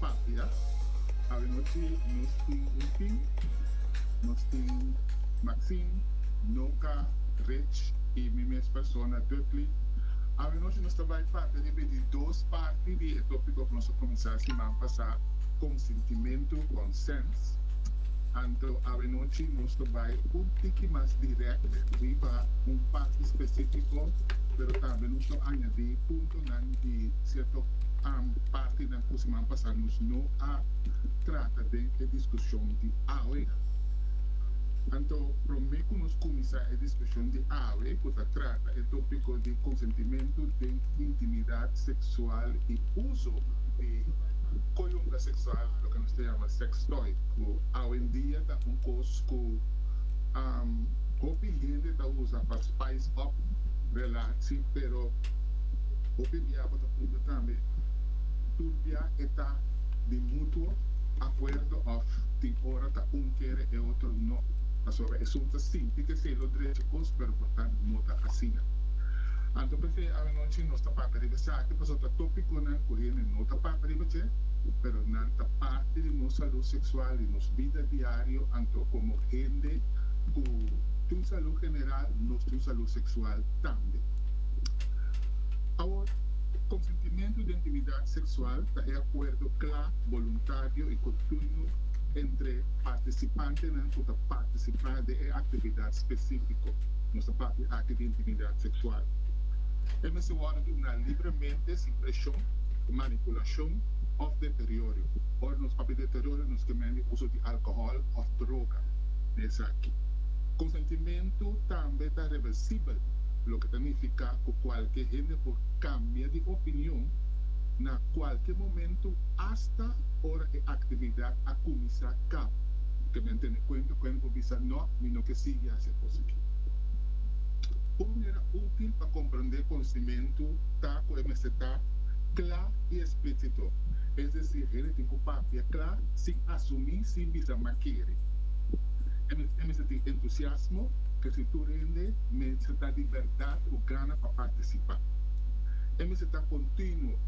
patria, habenos cu nos tin un fin, nos tin Maxine, Noka, Rich y mi mes persona Dudley. Habenos cu nos ta bay parte riba di dos parti di e topico cu nos a cuminsa siman pasa, consentimento, consent. Anto habenos cu nos ta bay un tiki mas direct riba un parti specifico, pero tambe nos lo añadi punto. nan di cierto partinan cu siman pasa nos no a trata den e discusion di awe. Anto prome cu nos cuminsa e discusion di awe cu ta trata e topico di consentimento den intimidad sexual y uso di coyunga sexual, loke nos ta yama sex toy, cu awendia ta un cos cu hopi hende ta usa pa spice up relaci pero. Hopi bia bo ta puntra tambe tur bia e ta di mutuo akuerdo òf tin ora ta un kere e otro no. Pasobra esun ta sinti ke esei lo drechi kos pero por tantu no ta asina. Anto p'esei awanochi nos ta papia riba esaki pasobra ta topikonan ku hende no ta papia riba dje pero nan ta parti di nos salú seksual di nos bida diario anto komo hende ku tin salú general nos tin salú seksual tambe. Awor, konsentimentu den aktividat seksual ta e akuerdo kla, boluntario i kontinu entre partisipantenan ku ta partisipá den e aktividat spesífiko. Nos ta papia aki di intimidat seksual. E mester wòrdu duna libremente, sin preshon, manipulashon òf deteriorio. Ora nos papia deteriorio nos ke men di uso di alkohòl òf droga na esaki. Konsentimentu tambe ta reversibel. loke ta nifiká ku kualke hende por kambia di opinion na kualke momentu asta ora e aktividat a kuminsá kaba. Ke men tene kuenta ku hende por bisa nò, mi no ke sigui hasi e kos aki. Un manera útil pa komprendé konsimentu ta ku e mester ta kla i esplísito, es desir hende tin ku papia kla sin asumí, sin bisa makere. E mester tin entusiasmo, kèr si tur hende mester ta di berdad cu gana pa participa. E mester ta continuo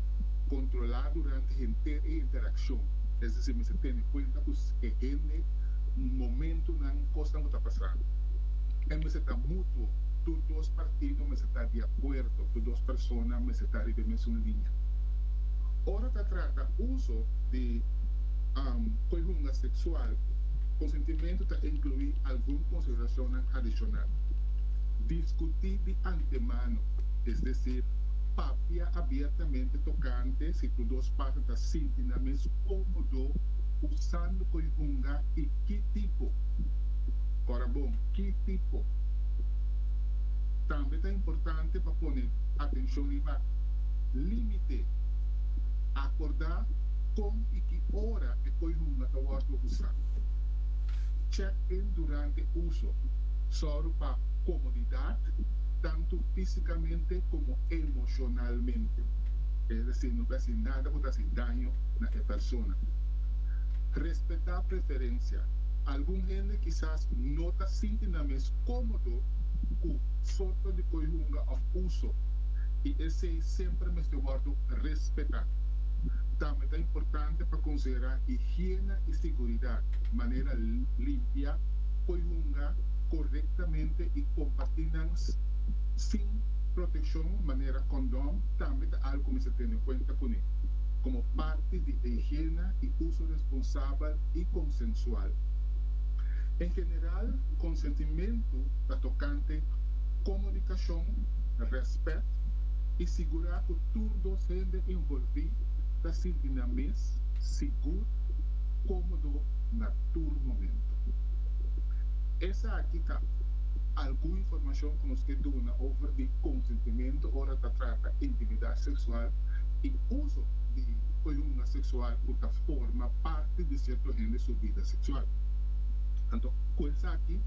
controla durante henter e interaccion, es decir, mester tene cuenta cu e hende, momentonan, cosnan cu ta pasando. E mester ta mutuo, tur dos partido mester ta di acuerdo, tur dos persona mester ta riba e mesun linea. Ora ta trata uso di coyunga sexual, consentimento ta inclui algun consideracionnan adicional. Diskutí di antemano, es desir, papia abiertamente tokante si tur dos parten ta sinti nan mes kómodo usando konjunga i ki tipo. Ora bon, ki tipo? Tambe ta importante pa pone atenshon riba límite. Akordá kon i ki ora e konjunga ta wòrdu usá. Check-in durante uso. Sòru pa komodidat, tantu físikamente komo emoshonalmente, es desir no ta hasi nada ku ta hasi daño na e persona. Respetá preferensia, algun hende kisas no ta sinti nan mes kómodo ku sorto di koe hunga òf uso, i esei semper mester wòrdu respetá. Tambe ta importante pa konsiderá higiena i siguridat, manera limpia, por hunga korektamente i kompartí nan sin protekshon manera kondon tambe ta algu ku mester tene kuenta kuné komo parti di e higiena i uso responsabel i konsensual. En general, konsentimentu ta tokante komunikashon, rèspèt i sigurá ku tur dos hende envolví ta sinti nan mes sigur, kómodo na tur momentu. Esaki ta algun informashon ku nos ke duna over di konsentimentu ora ta trata intimidat seksual i uso di koyunga seksual ku ta forma parti di sierto hende su bida seksual. Anto, ku esaki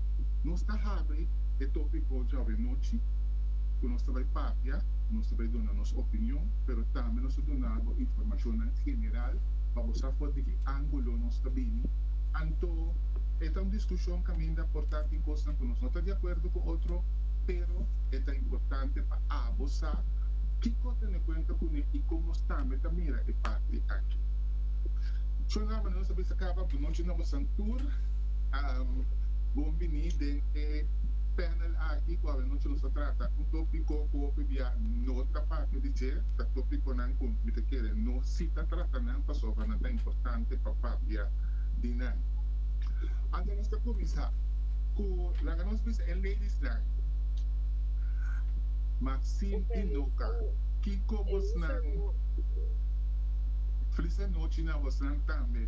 nos ta habri e tópiko djòbia nochi ku nos ta bai papia, nos ta bai duna nos opinion, pero tambe nos ta duna bo informashonnan general pa bo sa for di ki ángulo nos ta bini, Anto, e ta un diskushon kaminda por ta tin kosnan ku nos no ta di akuerdo ku otro, pero e ta importante pa abo sa kiko tene kuenta kuné i kon nos tambe ta mira e parti aki. Shon Ramana, nos a bisa kaba bunochi na bosan tur. Bon bini den e panel aki ku awanochi nos a trata un tópiko ku hopi bia no ta papia di dje, ta tópikonan ku mi ta kere no si ta trata nan pasobra nan ta importante pa papia di nan. Anto nos ta kuminsá ku laga nos bisa e ladysnan, Maxine i Nuka, kiko bosnan, Flis anochi na bosnan tambe,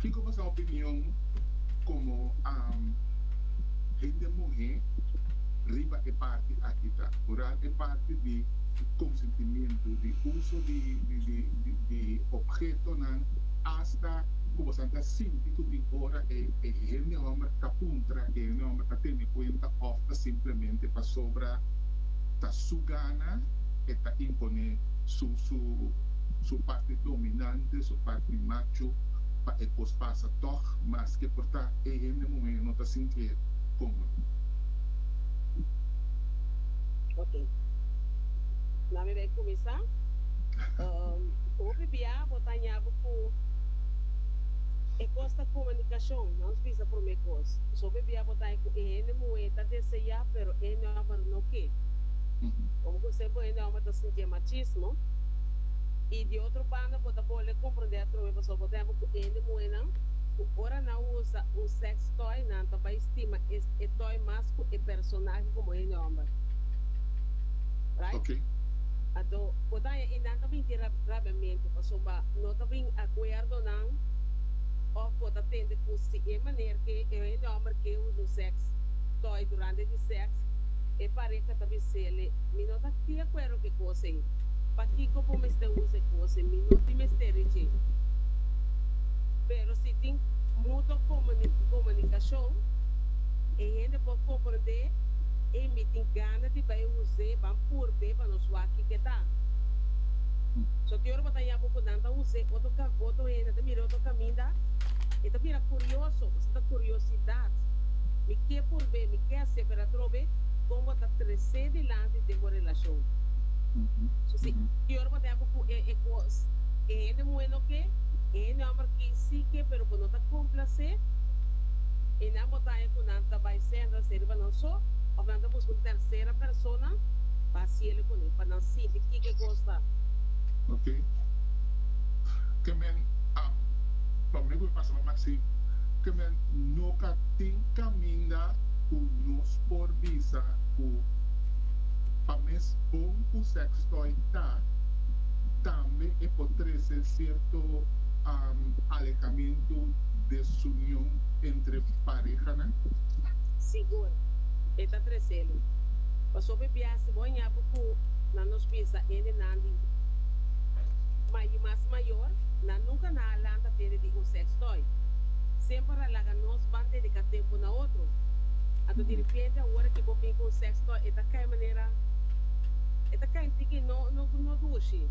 kiko boso opinion komo hende muhé riba e parti aki ta? Hural e parti di konsentimiento, di uso di obhetonan. ta ku boso a ta sinti ku tin ora e e hende hòmber ka puntra, e hende hòmber ka tene kuenta òf ta simplemente pasobra ta su gana e ta imponé su su su parti dominante, su parti macho pa e kos pasa tòg maske por ta e hende muhé no ta sintié kómodo. Ok. Nan mi bai kuminsá. Hopi bia bo ta haña bo. ku e kos ta komunikashon, nan nos bisa promé kos. Pasobra e bia bo ta haña ku e hende muhé ta deseá, pero e hende hòmber no ke. Amo ku esei bo hende hòmber ta sintié machismo. I di otro banda bo ta bole komprondé atrobe pasobra bo ta hembra ku e hende muhénan ku ora nan usa un sex toy nan ta bai stima es e toy mas ku e personahe komo hende hòmber. Right? Anto bo ta haña i nan ta binti rabiamentu. Paso pa no ta bin akuerdonan òf bo ta tende kos di e maner ke e hòmber ke usa sèks tòy durante di sèks, e pareka ta bin seli, Mi no ta di akuerdo ku e kos ei. Pakiko bo mester usa e kos ei? Mi no tin mester di dje. Pero si tin mutuo komunikashon, e hende por komprondé ei mi tin gana di bai us'é, ban purbe pa nos wak kiko e ta. So te ora bo ta yama ku nan ta us'é otro ka, otro hende ta mira otro kaminda, e ta bira kurioso, bo sinta kuriosidat, Mi ke purbe, mi ke hase pero atrobe kon bo ta tres'é dilanti den bo relashon. So si te ora bo ta yama ku e kos e hende muhé no ke, e hende hòmber ke si ke pero bo no ta komplas'é enan, bo ta haña ku nan ta bai sèntrase riba nan so òf nan ta buska un tèrsera persona pa hasiel kuné pa nan sinti kiko e kos ta. Oke. Ke men a pa mi ku pasa pa Maxi, ke men no ka tin kaminda ku nos por bisa ku pa mes bon ku sex toy ta, tambe e por trese sierto alejamentu, desunion entre parehanan? Sigur, e ta treselu. Pasobra biaha si bo a ña bo ku na nos bisa. lanta hendenan di mai i mas mayor, nan nunca nan a lanta tende di un sex toy. Semper a laga nos ban dedica tempo na otro. Anto di repente awor aki bo bin cu un sex toy e ta cay manera e ta cay tiki no no no dushi.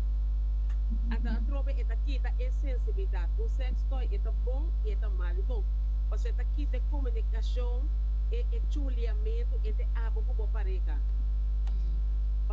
Anto atrobe e ta kita e sensibilidad. Un sex toy e ta bon i e ta mal di bo pasobra e ta kita e comunicacion e e chuliamento ente abo cu bo pareha.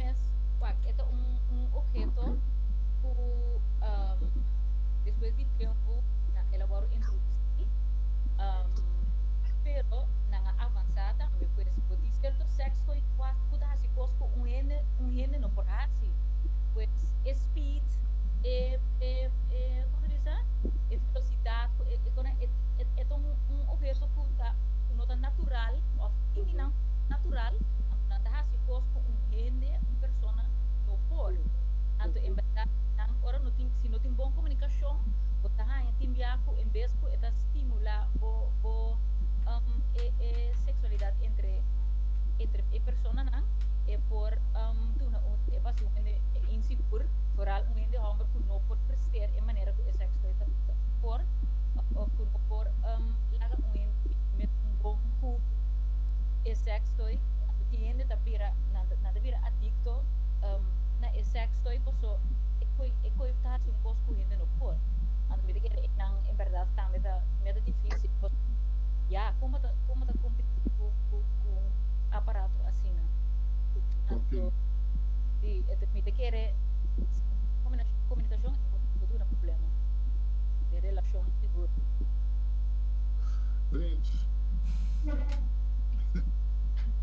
mes wak e ta un un obheto ku um, despues di tempu nan el a wòrdu introdusí um, pero nan a avansá tambe pues bo tin sierto sexo i kuas ku ta hasi kos ku un hende un hende no por hasi pues e speed e e e como se dice e velocidad ku e e kona e e e ta un un obheto ku ta ku no ta natural of tin di nan natural nan ta hasi kos cu un hende, un persona no por. Anto en berdad nan ora no tin, si no tin bon comunicacion bo ta haya tin bia cu en bes cu e ta stimula bo bo um e e sexualidad entre entre e personanan e por um duna un e bas un hende insigur vooral un hende homber cu no por prester e manera cu e sex toy ta ta por of of cu no por um laga un hende tin un bon cu e sex toy anto tin hende. Nan ta bira nan ta bira adicto na e sex toy paso e coy e coy ta haci un cos cu hende no por anto mi ta kere e nan en berdad tambe ta mi a ta dificil paso ya como ta como ta competi cu cu cu un aparato asina anto si ento mi ta kere comunicacion e por duna problema den relacion sigur. Rich.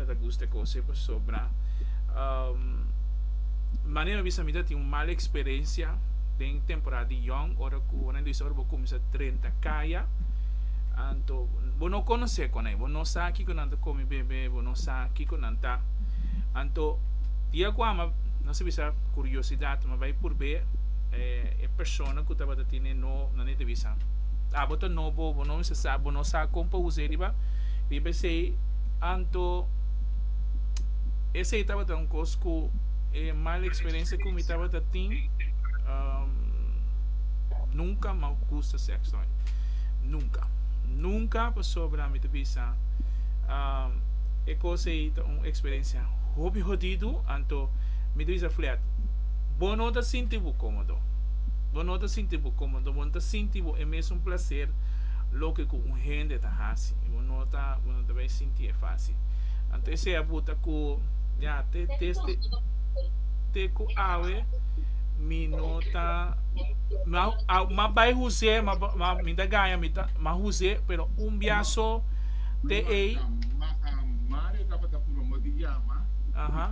no ta gusta e cose pasobra manera mi bisa mita tin un mal experiencia den temporada di yong ora cu nan bisa ora bo cuminsa trenta caya anto bo no conoce con e bo no sa kico nan ta come bebe bo no sa kico nan ta anto dia cu ama nan sa bisa curiosidad mi bay purbe e persona cu tabata tin e no nan e ta bisa abo ta no bo bo no bisa sa bo no sa con pa usa e riba riba esey. Anto, esei tabata un kos ku e mal eksperensia ku mi tabata tin, nunka mi a gusta sèkso mai. Nunka. Nunka pasobra mi ta bisa e kos ei ta un eksperensia hopi hodidu. Anto mi ta bisa Fliad, bo no ta sinti bo kómodo. Bo no ta sinti bo kómodo, bo no ta sinti bo e mesun plaser loke ku un hende ta hasi. Bo no ta. Bo no ta bay sinti e fácil. Anto esea bo ta cu ya te desde te cu awe mi no ta ma bay José ma mi ta gaña mi ta ma José pero un bia so te ey aha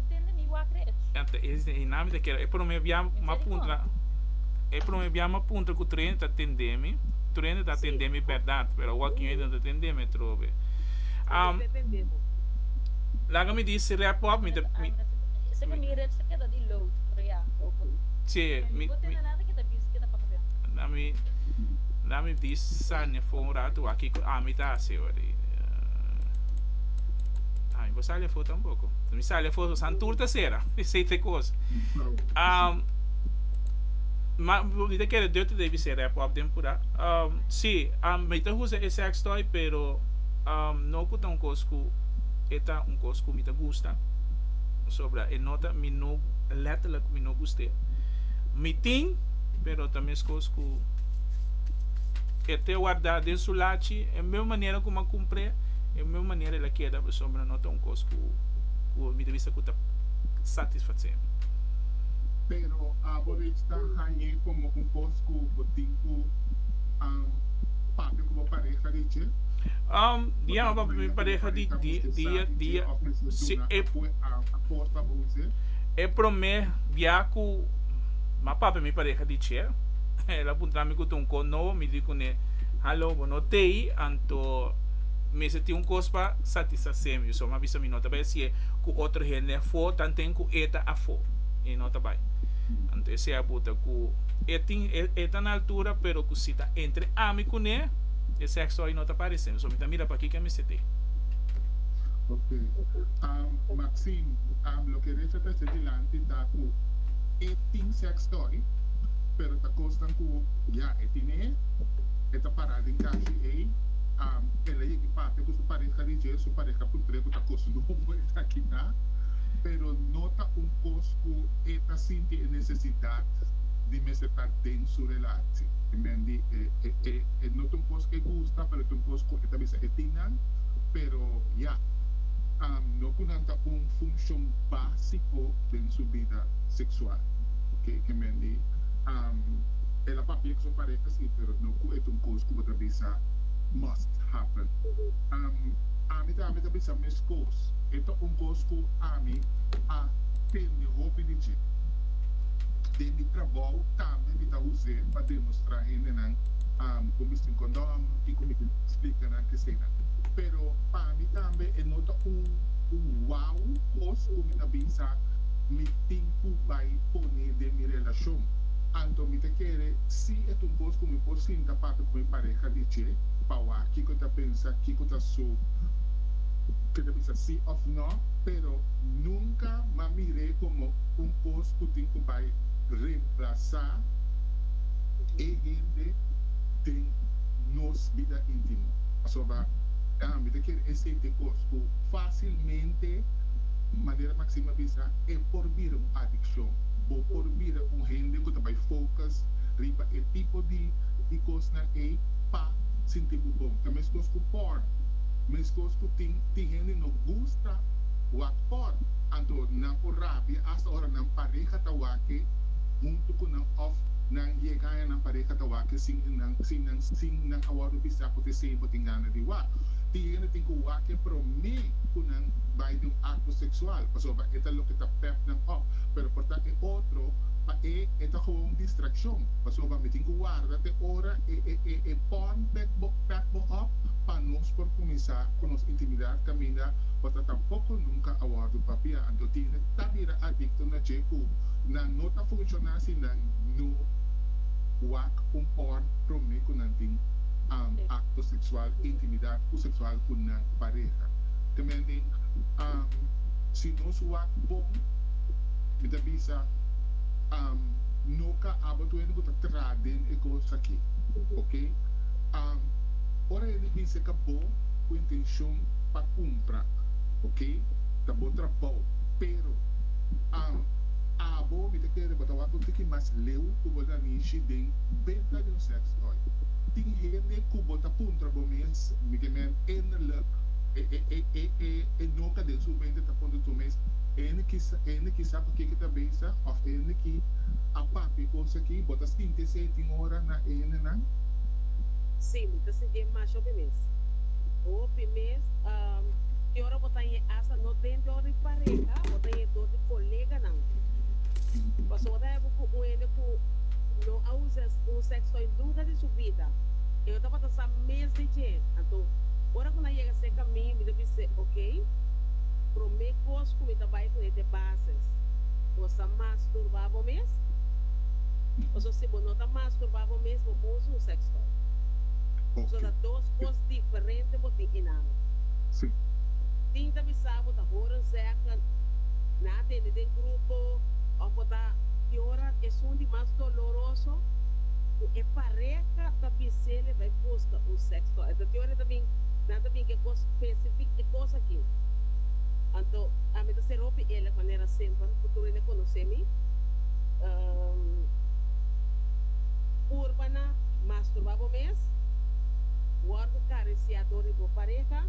Enta e dinamita kera e prome bia mapuntra e prome bia mapuntra ku Trene ta tendemi Trene ta tendemi bèrdat pero awor ki no ta tendemi atrobe am laga mi di si rèp op mi ta che mi mi la mi di Sania for un rato wak kiko ami ta hasi awor ami bo sali afo tampoko. Mi sa le foso san tur ta sera. Esei te kos. Um, ma mi te kere deur today mi sera pop den pura. Um, si, um, mi te usa e sex toy, pero um, no ku ta un kos ku e ta un kos ku mi ta gusta. Pasobra e no ta, mi no, letterlijk mi no guste. Mi tin, pero ta meskos ku e te warda den su lachi, e mesmo manera ku mi a kumpr'e, e mesmo manera el a keda, pasobra no ta un kos. kos ku mi ta bisa ku ta satisfase mi. Pero abo rich ta hañ'é komo un kos ku bo tin ku papia ku bo pareha rich e? Bo ta papia ku bo pareha di dia rich e òf mesora duna apue akor pa bo use? E promé bia ku mi a papia mi pareha rich e, el a puntra mi ku ta un kos nobo. Mi di kuné, Halo, bo no tei, anto mester tin un kos pa satisfase. Semi, Yson a bisa mi no ta bai hasié ku otro hende afó tanten ku e ta afó. E no ta bai. Anto e sea buta ku e tin, e ta na altura, pero ku si ta entre ami kuné, e sèkso hoy no ta paresemi. So mi ta mira pakiko e mester tee. Ok. Maxine, Loke Recha ta hasié dilanti ta ku e tin sèks toy, pero ta kosnan ku ya e tine, e ta pará den kashi ei, el a yegi papia. e ku su pareha di dje, su pareha ku dre ku ta kos nobo e ta kita, pero no ta un kos ku e ta sinti e nesesidat di mester ta den su relashi. Amen di e no ta un kos ku e gusta, pero ta un kos ku e ta bisa e tin nan, pero ya no ku nan ta un funshon básiko den su bida seksual. Oke, amen di el a papia ku su pareha si, pero no ku e ta un kos ku bo ta bisa must. happen. Ami tambe ta bisa meskos, e ta un kos ku ami a tende hopi di dje. Den mi trabou tambe mi ta us'é pa demostrá hendenan kon mi sin kondom i kon mi ta splika nan kesenan. Pero pa mi tambe e no ta un wou kos ku mi ta bisa mi tin ku bai pone den mi relashon. Anto mi ta kere si e ta un kos ku mi por sinta papia ku mi pareha di dje. pa wak kiko ta pensa, kiko ta su ke ta bisa si of no, pero nunka ma mir'é komo un kos ku tin ku bai remplasá e hende den nos bida intimo. Pasobra mi ta kere esei t'e kos ku fásilmente, manera Maxine a bisa, e por bira un adikshon. Bo por bira un hende ku ta bai focus riba e tipo di kosnan ei. pa sinti bo bon. Ta meskos ku por. Meskos ku tin tin hende no gusta wak por. Anto nan por rabia asta ora nan pareha ta wake huntu ku nan òf nan yegaña nan pareha ta wake sin nan sin nan sin nan a wòrdu bisa ku tese bo tin gana di wak. Tin hende tin ku wake promé ku nan bai den un akto seksual pasobra e ta loke ta pep nan òf. Pero por ta e otro pa e e ta koba un distrakshon pasobra mi tin ku warda te ora E pon pek bo pek bo op pa nos por kuminsá ku nos intimidat kaminda bo ta tampoko nunka a wòrdu papiá. Anto tine ta bira adikto na dje ku nan no ta funshoná si nan no wak un pon promé ku nan tin akto seksual, intimidat ku seksual ku nan pareha. Te menten si nos wak bon mi ta bisa no ka abo tuende ku ta. aden e cos aki, ok? Am, ora e di bice ca bo cu intencion pa cumpra, ok? Ta bo trabao, pero, am, abo mi ta kere bo ta wak un tiki mas leu cu bo ta nishi den benta di un sex toy. Tin hende cu bo ta puntra bo mes, mi ke men enderlijk e, e, e, e, e, e noka den su mente ta puntra tur mes, hende ki sa, hende ki sa pa ke ki ta bezig of hende ki a papia e cos Ki bo ta sinti esei tin ora na e hendenan? Sí, mi ta sinti e mas hopi mes. Hopi mes. Ki ora bo ta yen asta no den dor di pareha, bo ta yen dor di koleganan. Pasobra bo ta hebe ku un hende ku no a usa un sèkstòy nunka den su bida. E no tabata sa mes di dje. Anto, ora ku nan a yega serka mi, mi ta bis'é, Okey, promé kos ku mi ta bai ku e te bases. Bo sa mas turba bo mes? Pasobra si bo no ta masturbá bo mes, bo por usa un sex toy. Pasobra dos kos diferente bo tin einan. Tin ta bisa bo ta horen zègge na atende den grupo òf bo ta yora esun di mas doloroso ku e pareha ta bis'é mira bai buska un sex toy. Esei ta yora ta bin nan ta bin ku e kos spesifik e kos aki. Anto ami ta seru opi el manera semper, futuro ene konos'é mi. Por pa nan masturba bo mes, wòrdu acariciado riba bo pareha,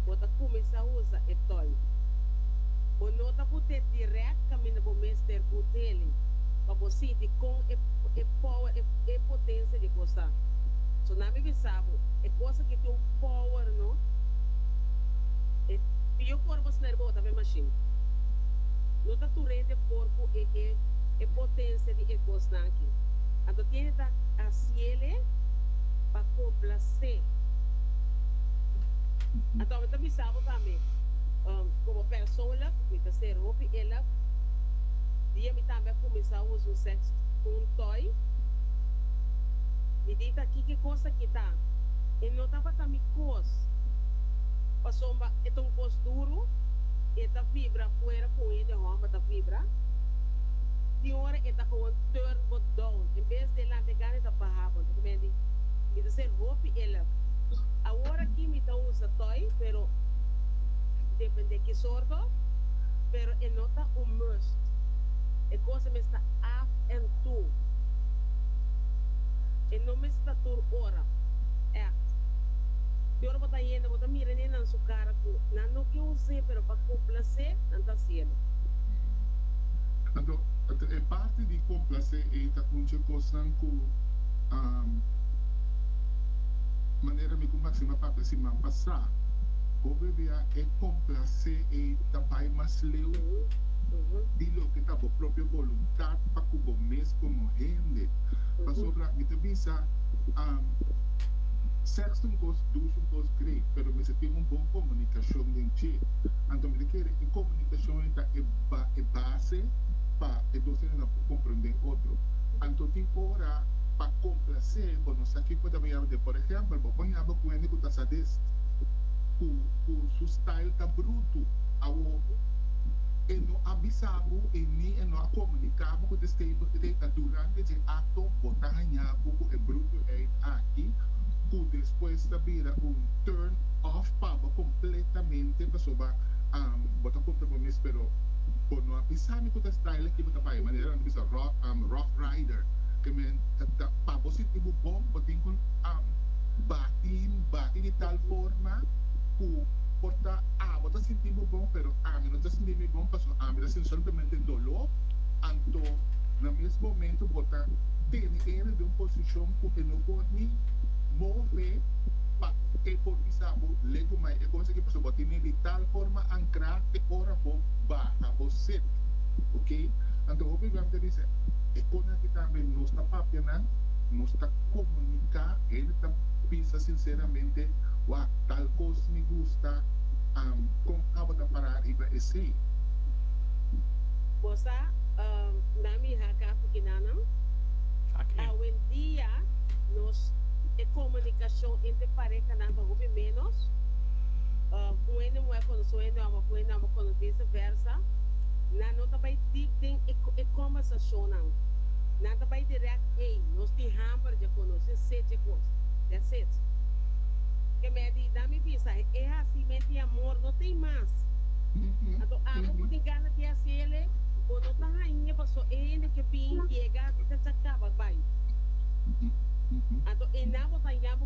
bo ta kuminsá usa e tòy. Bo no ta ku te dirèkt kaminda bo mester ku tele pa bo sinti kon e power, e potensia di e kos ta. So nan mi bisa bo, e kos aki tin un power no, e pió por bo sna riba otro ta be mashin. tur hende por cu e e e potencia di e cosnan aki. Anto tiene ta haciele pa complace. Anto mi ta bisa bo tambe, como persoonlijk, mi ta ser hopi eelig. Dia mi tambe a cuminsa usa un sex cu un toy, mi di ta kiki cos aki ta. E no tabata mi cos, pasobra e ta un cos duro y e ta vibra afuera. Cu e de homber ta vibra tin ora e ta gewoon turn bo down en bes di e lampe gana e ta baha bo entonces mi a di mi ta ser hopi elef awor aki mi ta usa toy pero depende ki sorto pero e no ta un must e cosa mes ta af en tu e no mes ta tur ora echt tin ora bo ta hende bo ta mira ni nan su cara cu nan no ke us'e pero pa compla. complacé nan ta cielo. Anto, e parti di complacé ei ta hunchi cosnan cu a manera mi cu Maxima papia siman pasá, hopi bia e complacé ei ta bai mas leu di loke ta bo propio voluntad pa cu bo mes como hende. Pasobra mi ta bisa, sexo un cos dushi, un cos great, pero mester tin un bon comunicacion den dje. Anto mi ta kere e komunikashon ei ta e base pa e dos hendenan por komprendé otro. Anto tin ora pa komplase bo no sa kiko ta baña rond'é. Por ehèmpel, bo por yama ku un hende ku ta sadist, ku ku su style ta brutu. Awo e no a bisa bo i ni e no a komuniká bo ku ta stay bo te ta durante dje akto bo ta haña bo ku e brutuheid aki ku despues ta bira un turn off pa bo. completamente pasoba bo ta puntra bo mes pero bo no a bisa mi cu ta style aki bo ta bay manera nan ta bisa rough rider ke men ta pa bo sinti bo bon bo tin cu bati bati di tal forma cu por ta abo ta sinti bo bon pero ami no ta sinti mi bon pasobra ami ta sinti solamente dolo anto na mes momento bo ta tene e riba un posicion cu e no por ni move pa e por bisa bo le ku mai e kos aki pasobra bo tene di tal forma ankrá te ora bo baha bo set. Oke. Anto hopi lugar ta bisa e kos aki tambe nos ta papia nan, nos ta komuniká, hende ta bisa sinseramente, Wak, tal kos mi gusta, am, kon abo ta pará riba esei? Bo sa, nan mi haka fukinannan? Howendia nos e komunikashon entre pareha. nan ta hopi ménos, un hende muhé a konosé un hende hòmber, òf un hende hòmber a konosé viseversa, nan no ta bai dip den e kòmbèrsashonnan. Nan ta bai dirèk, Ey, nos tin hòmber dje ku nos tin sid dje kos. That's it. Ke meh di dam mi bisa, e hasimenti amor no ta ei mas. Anto abo ku tin gana di haséle, bo no ta hañ'e pasó e hende ke bin yega, di chacha kaba bai. Anto e nan bo ta yama.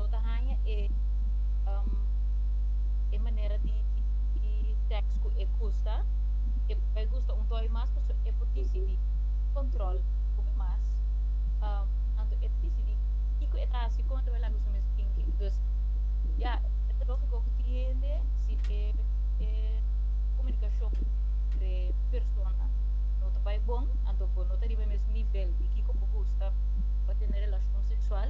Lo ta haña e e manera di di teks ku e gusta, e por bai gusta un toi mas, paso e por disidí kòntròl hopi mas. Anto e ta disidí kiko e ta hasi, kon e ta bai laga su mes tinki. Dus ya e ta lógiko ku tin hende si e e komunikashon entre persona no ta bai bon, anto bo no ta riba e mes nivel di kiko bo gusta pa tene relashon seksual,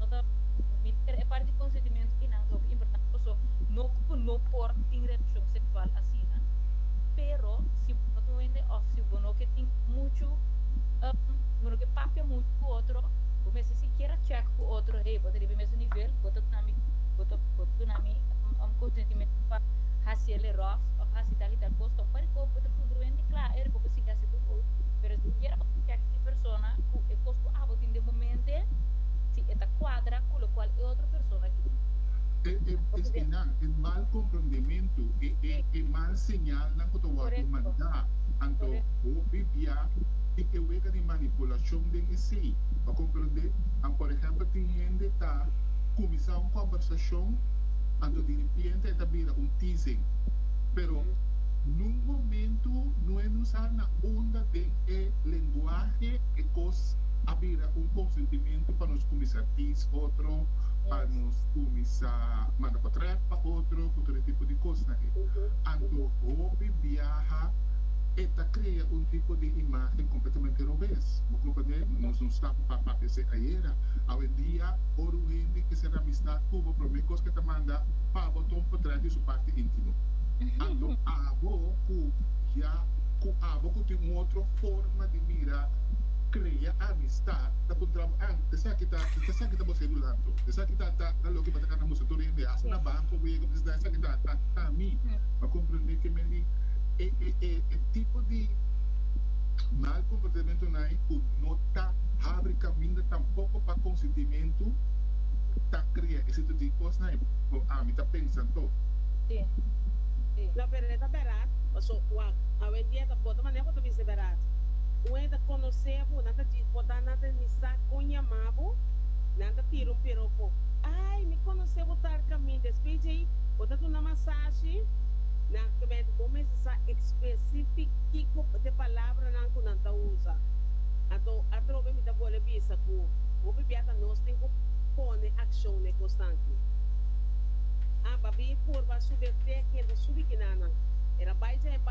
Anto, mi ta kere e parti konsentimento i nan tok importante paso no ku no por tin relashon seksual asina, pero si bo no ta wende òf si bo no ke tin muchu bo no ke papia muchu ku otro, bo mester sikiera chèk ku otro hey bo ta riba e mesun nivel, bo ta duna mi bo ta bo ta duna mi konsentimentu pa hasi el e ròf òf hasi tal i tal kos, tok parikos bo ta kongruente kla e riba bo sigui hasi bo ròf, pero sikiera bo ta chèk e persona. persona cu e cos cu abo tin den momente, si e ta cuadra cu locual e otro persona tin. E e espinan, e mal comprondementu, e e e mal señalnan cu ta wordo manda. Anto, hopi bia tin e wega di manipulacion den esey. Pa comprende, a por ehempel tin hende ta cuminsa un combersacion, anto di ripiente e ta bira un teasing. Pero nun momentu no e nos a na unda den e lenguahe. Lenguahe e kos a bira un konsentimentu pa nos kuminsá tins otro, pa nos kuminsá manda pa trèk pa otro ku tur e tipo di kosnan ei. Anto hopi biaha e ta krea un tipo di imágen kompletamente robes. Bo komprendé? Nos no staba pa papia esei ayera. Awendia, ora un hende ke ser amistad ku bo, promé kos ke ta manda pa bo ta un potrèt di su parti íntimo. Anto abo ku ya ku abo ku tin un otro. forma di mira krea amistat ta ku trabo an esaki ta esaki ta bo sedu lando esaki ta ta ta loke bo ta kana musu tur día mi hasi na banko bo yega bisna esaki ta ta ta mi bo komprende ke men di e e e e tipo di mal komportamentunan ku no ta habri kaminda tampoko pa konsentimentu ta krea e situ di kosnan bo ami ta pensa anto. Di di la verdad ta berat paso wak awe en día ta. Bo ta maneha bo ta mester berat. Un hende ta conoce bo, nan ta djis bo ta nan ta ni sa con yama bo, nan ta tira un piropo, ay mi conoce bo tal camin, despues dje ay bo ta duna masashi, nan kbènt bo mester sa especific kico te palabranan cu nan ta usa. Anto atrobe mi ta bole bisa cu hopi bia hasta nos tin cu pone accion n'e cosnan ki. Amba bin purba sube tec hende subi kinanan. E ta bay dje e.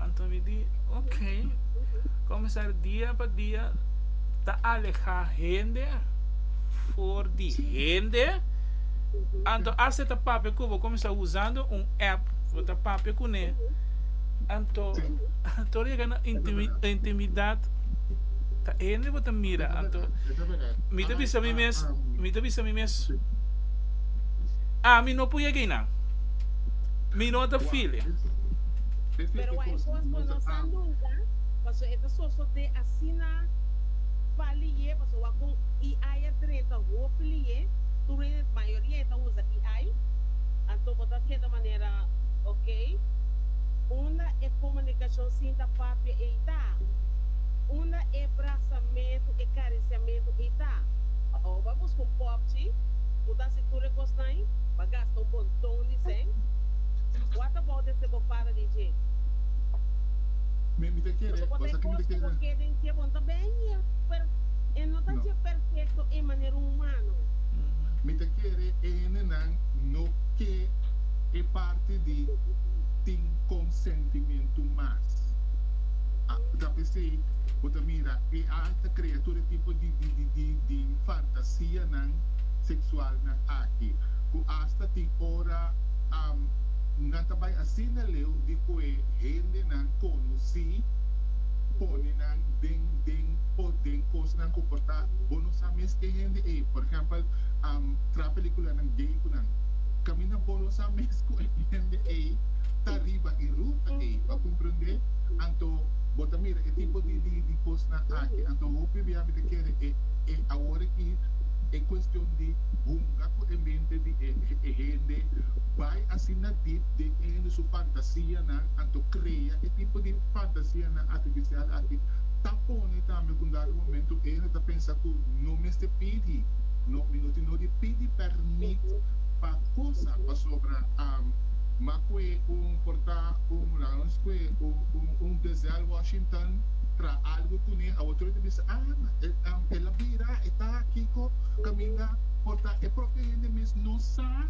Anto mi di, Ok. Comenzar dia pa dia ta aleha hende for di hende. Anto as e ta papia cu bo, comenzar usando un app, bo ta papia cu ne. Anto, anto llega na intimidad, ta hende bo ta mira. Anto, mi ta bisa mi mes, mi ta bisa mi mes, Ami no puede yega eynan. Mi no ta feel e. Pero wai kos pa nos a lunga, paso e ta sosodé asina pa liye, paso wak kon AI a treta hopi liye, tur hende mayoria e ta usa AI, anto bo ta keda manera ok, unda e komunikashon sinta papia ei ta? Unda e brasamentu, e karisiamentu ei ta? Awo ba buska un popchi, bo ta hasi tur e kosnan, ba gasta un monton di sèn, wata bou di. ke bo para di dje. Mi mi ta kere, bo sa ke mi ta kere. Bo ta kere dje bo ta benge, pero e no ta dje perfecto e manera humano. Mi ta kere hendenan no ke e parti di tin consentimentu mas. Bo ta pesey, bo ta mira e alta crea tur e tipo di di di fantasianan sexualnan aki, cu hasta tin ora. Nan ta bai asina leu di koe hendenan konosí pone nan den den o den kosnan ku por ta bo no sa mes ke hende ei. Por ehèmpel, tra pelikulanan gay ku nan kamina bo no sa mes ku e hende ei ta riba e ruta ei. Bo a komprendé? Anto bo ta mira e tipo di di di kosnan aki. Anto hopi bia mi ta kere e e awor aki e kuestion di hunga ku e mente di e e hende. bai asina dip den e hende su fantasianan, anto krea e tipo di fantasianan artificial aki ta pone tambe ku un dado momento e hende ta pensa ku no mester pidi, no mi no tin no di pidi permit pa kosa, pasobra m'a kue un por ta un, laga nos kue un Denzel Washington tra algu kuné a otro ta bisa ah el a bira e ta kiko kaminda por ta e propio hende mes no sa.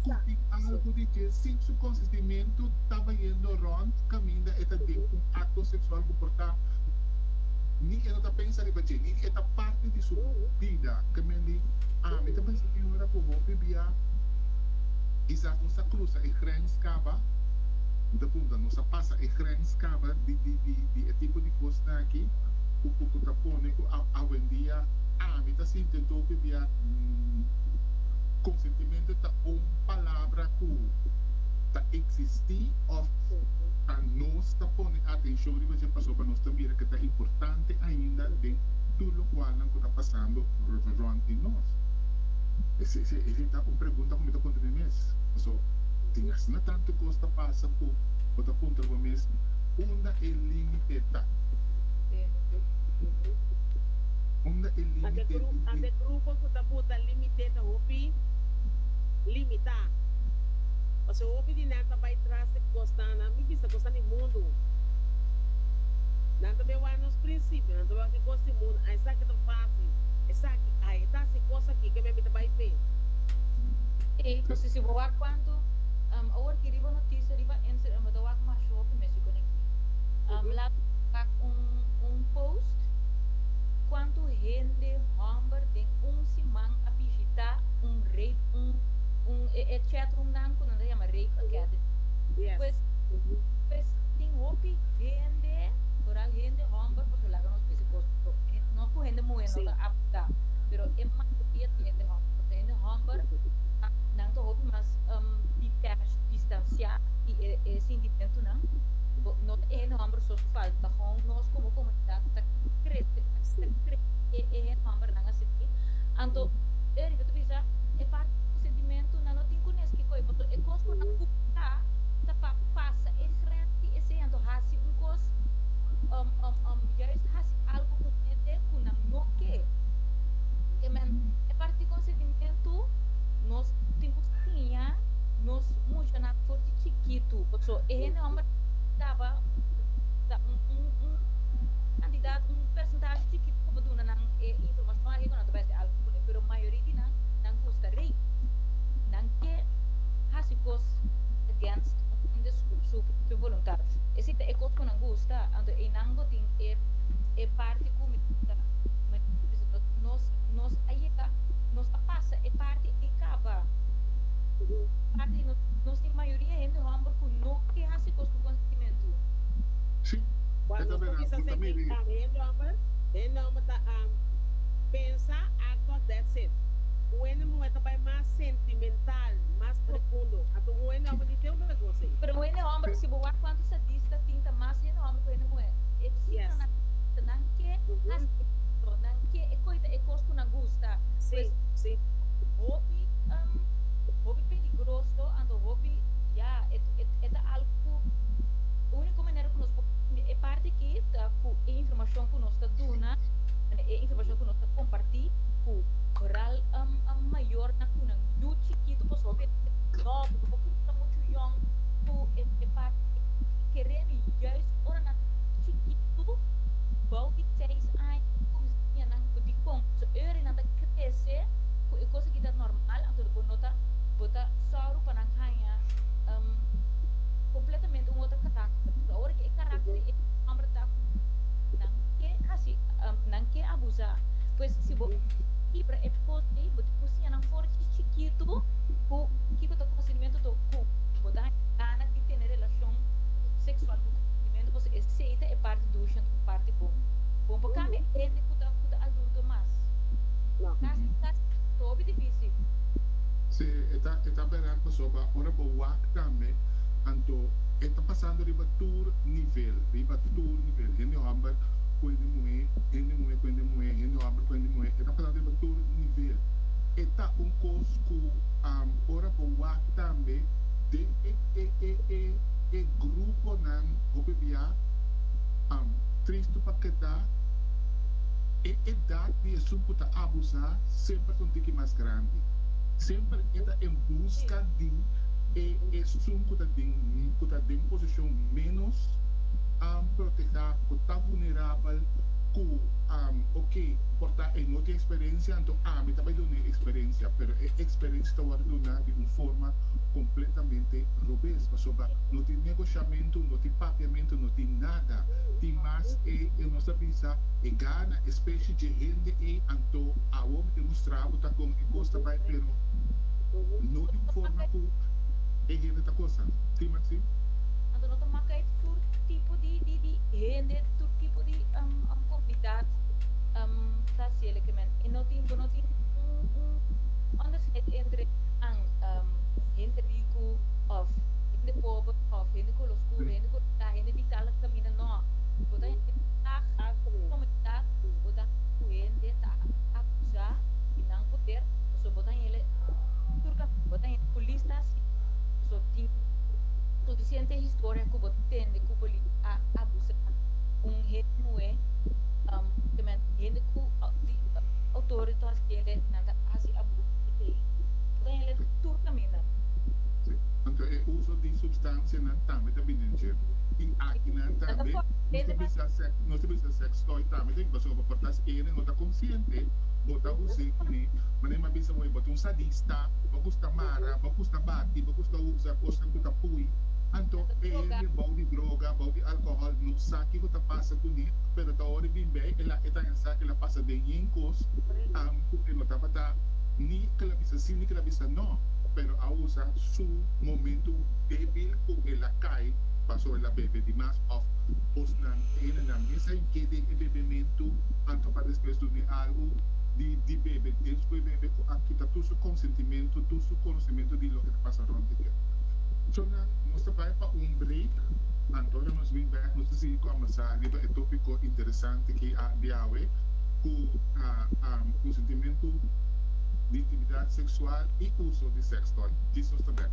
Cuti algu di dje sin su consentimentu ta bayendo rond caminda e ta den un acto sexual cu por ta ni e no ta pensa riba dje ni e ta parti di su bida ke men di ami ta pensa tin ora cu hopi bia kisas nos a crusa e grens caba mi ta punta nos a pasa e grens caba di di di di e tipo di cosnan aki cu cu cu ta pone cu a awendia ami ta sinti e topi bia consentimentu. Arepentimentu ta un palabra ku ta eksistí òf ta nos ta pone atenshon riba dje pasobra nos ta mira ke ta importante ainda den tur lokualnan ku ta pasando rònt di nos. Esei ta un pregunta ku mi ta puntra mi mes, Paso tin asina tantu kos ta pasa ku bo ta puntra bo mes unda e límite ta? di mite ta hopi limitá. Pasobra hopi di nan ta bai tras di kosnan, nan mi bisa kosnan di mundu. Nan ta bin wak nos prinsipio, nan ta bin wak e kos di mundu. A esaki ta fásil, esaki ai, e ta hasi kos akí ke mi a mira ta bai fe. Sí, pasobra si bo wak kuantu awor ki riba notisia riba Instagram bo ta wak masha hopi mester kuné ki. Laatst mi a wak un post kuantu hende hòmber den. un siman a bishitá un rape un un e e chatroomnan ku nan ta yama Rape Academy. Pues pues tin hopi hende, toral hende hòmber pasobra laga nos bisa kos ku nos ku hende muhé no ta aptu ta, pero e mayoria ta hende hòmber pasobra hende hòmber nan ta hopi mas detached, distansiá di e e sintimentunan. No no ta e hende hòmber sos ku falta ta hòn nos komo komunidat ta krese ta krese e e hende hòmber. para nan a sigui. Anto, e riba ta bisa e parti di konsentimentunan no tin ku nes ke koe paso e kos ku nan gustá ta pa pasa e grens di esei. Anto hasi un kos yais hasi algu ku un hende ku nan no ke. Ke men e parti di konsentimentu nos tin ku siña nos mushanan for di chikitu paso e hende hòmber tabata un kantidat un persentashe chikitu ku pa duna. nan e informacion aki cu nan ta bay esque algo cune, pero mayoria di nan, nan busca rey. Nan ke haci cos against Hunde su propio voluntad. E si ta e cos cu nan gusta, anto eynan bo tin e e parti cu mi ta nos nos a yega, nos a pasa e parti ey caba. Cu parti di nos, nos tin mayoria hende homber cu no ke haci cos cu consentimiento. Si, e ta verdad, bo ta mira ey. E nomber ta ampi. Pensa Arthur Detseth. Cu ene muhe ta bay mas sentimental, mas profundo. Anto cu ene homber di te un begoso ey. Pero ene homber, si bo wak cuanto sadista tin ta mas ene homber cu ene muhe. E visita nan ta cuenta nan ke haci esto, nan ke e coita e cos cu nan gusta. Pues e ta hopi, hopi peligroso, anto hopi, ya, e ta algo cu unico manera cu nos por cambia e parti aki ta. cu e informacion cu nos ta duna, e informacion cu nos ta comparti cu ral mayornan cu nan yu chikitu pasobra e ta nobo, pasobra cu nos ta mucho yong cu e papia e mami keremi juist ora nan ta chikitu, bao di seis aña bo ta cuminsa siña nan bo dicon ta haci. Ora nan ta crece cu e cos aki ta normal anto bo no ta, bo ta suru pa nan haya completamente un otro caracter, pasobra ora cu e caracter. Amber ta nan ke hasi nan ke abusa pues si bo kibra e post ei bo tin ku siña nan for chi chikitu ku kiko ta konsentimentu to ku bo ta haña gana di tene relashon seksual ku konsentimentu pasobra esei ta e parti dushi anto e parti bon bon pa kamba e hende ku ta ku ta adulto mas kasi kasi ta hopi difísil. Si e ta e ta berat pasobra ora bo wak tambe anto e ta pasando riba tur. tur nivel, riba tur nivel, hende hòmber ku hende muhé, hende muhé ku hende muhé, hende hòmber ku hende muhé, e ta pasá riba tur nivel. E ta un kos ku ora bo wak tambe den e e e e e gruponan hopi bia, tristu pa keda, e edat di esun ku ta abusá semper ta un tiki mas grandi. Semper e ta en buska di e esun ku ta den ku ta den posi. poblacion menos proteha cu ta vulnerabel cu ok por ta e no tin experiencia anto ami ta bay duna e experiencia pero e experiencia ta worde duna di un forma completamente robes pasobra no tin negociamento no tin papiamento no tin nada tin mas e e nos ta bisa e gana e specie dje hende ey anto awor mi demustra bo ta con e cos ta bay pero no di un forma cu e hende ta cosa tin mas. Anto no ta maka e tur tipo di di hende, e tur tipo di comunidad ta haci e leke men. E no tin, bo no tin un un onderscheid entre nan hende ricu of hende pober of hende color scuro, hende color blanco, hende di tal camina, no. Bo ta hende di dag un comunidad, bo ta hende cu hende ta acusa y nan poder, pasobra bo ta hende tur camina, bo ta hende cu lista asina. tin suficiente historia cu bo tende cu bo a abusa un hende muhe, um, spesialmente hende cu di autoridad yele nan ta haci abuso di ley. Bo ta yele den tur caminda. Si, anto e uso di substancianan tambe ta bini dje. I akinan tambe nos ta bisa sex, nos ta bisa sex toy tambe ta bin pasobra bo por ta haci ene no ta consciente, bo ta us'e cu ne manera. Mi a bisa bo e bo ta un sadista, bo gusta mara. ku sta bati bo ku sta usa kosnan ku ta pui anto e hende bou di droga bou di alkohòl no sa ke ku ta pasa kuné pero ta ora bin bai el a e ta hensa el a pasa den yen kos am ku e no tabata ni kel a bisa sí ni kel a bisa no pero ausa su momentu débil ku el a kai pasó el a bebe di mas òf kosnan e hendenan mes a inkede e bebementu anto pa despues dun'e algu di di bebe despu e bebe ku a kita tur su konsentimentu. tutu su konosementu di loke ta pasa rònt di dia. So nan nos ta bai pa un break, anto ora nos bin bèk nos ta sigui kòmbèrsá riba e tópiko interesante ki di awe ku ta konsentimentu di intimidad seksual i uso di sex toy. Dis nos ta bèk.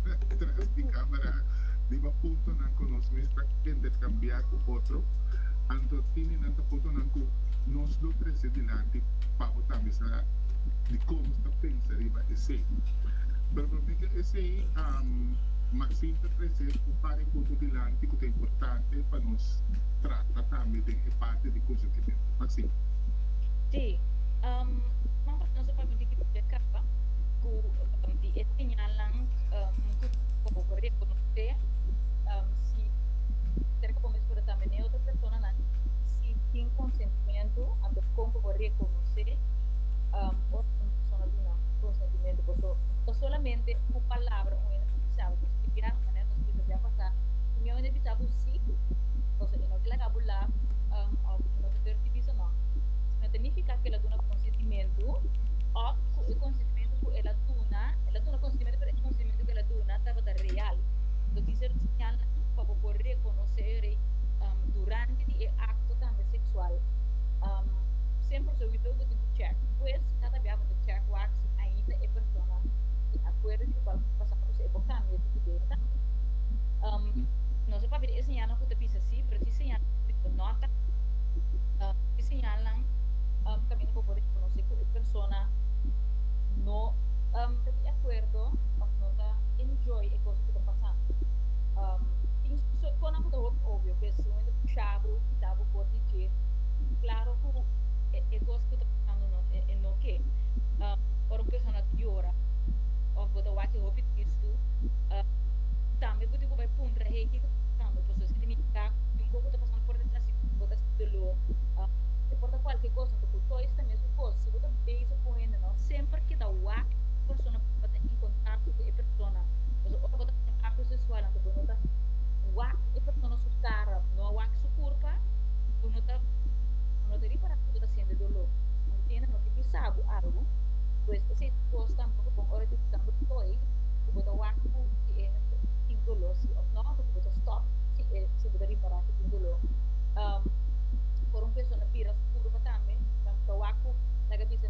tras di camera riba puntonan cu nos mes ta intercambia cu otro, anto Tini nan ta puntonan cu nos lo trece dilanti pa bo ta bisa di con nos ta pensa riba esey. Pero pa mi ta esey, Maxine ta trece un par di punto dilanti cu ta importante pa nos trata tambe den e parti di consentimento. Maxine. Si, Seman pas nos a permiti cu nos a caba cu di e señal. nan um, cu bo por reconoce um, si cerca bo mes por tambe ne otro persona nan si tin consentimiento ando con bo por reconoce um, o un persona duna consentimiento por so o solamente un palabra un ene pisabo por explicar maneira nos explica dia pasado un ene pisabo si cosa que no que la cabo la um, o no te ter bisa no no significa que la duna consentimiento o cu el consentimiento cu el la duna ta duna konsentimento, pero e konsentimento ku el a duna tabata real. Lo dice e rusiñal nan pa bo por rekonosé e rei durante di e akto tambe seksual. Sen proseuitor bo tin ku chèk. Pues, si ta tabatin bo chèk wak si ainda e persona tin akuerdo di kibau ku pasá kos ei, bo kambia di idea tambe. Nos a papia di e señalnan ku ta bisa sí, pero si señalnan ku bisa no ta kamba, e señalnan kaminda bo por rekonosé ku e persona no. Ta di akuerdo òf no ta enjoy e kos ku ta pasá. Tin sòt kònan ku ta hopi obio, ku e sumento pushá bo, kitá bo por di dje. Klaro ku e kos ku ta pasando no e no ke. Ora un persona ta yora òf bo ta wak hopi tristu, tambe bo tin ku bai puntra hei kiko ta pasando. Pasobra esaki ta nifiká ku tin un kos ku ta pasando por detrás di bo, bo ta sinti doló. Por ta kualke kos, ora ku toy esta mesun kos, si bo ta bisa ku un hende no semper keda wak ku persona ku bo ta in kontakto ku e persona. Pasobra ora bo ta hasi un akto seksual anto bo no ta wak e persona su kara, bo no a wak su kurpa, bo no ta bo no ta repará ku bo ta siente doló. Bo no tende no ke bisa bo algu. Pues esei ta un kos tambe ku bon ora bisambo to'i ku bo ta wak ku si e mester tin doló si òf nò anto ku bo ta stòp si e si bo ta repará ku tin doló. Ora un persona bira su kurpa tambe, tambe ta wak ku laga bisa.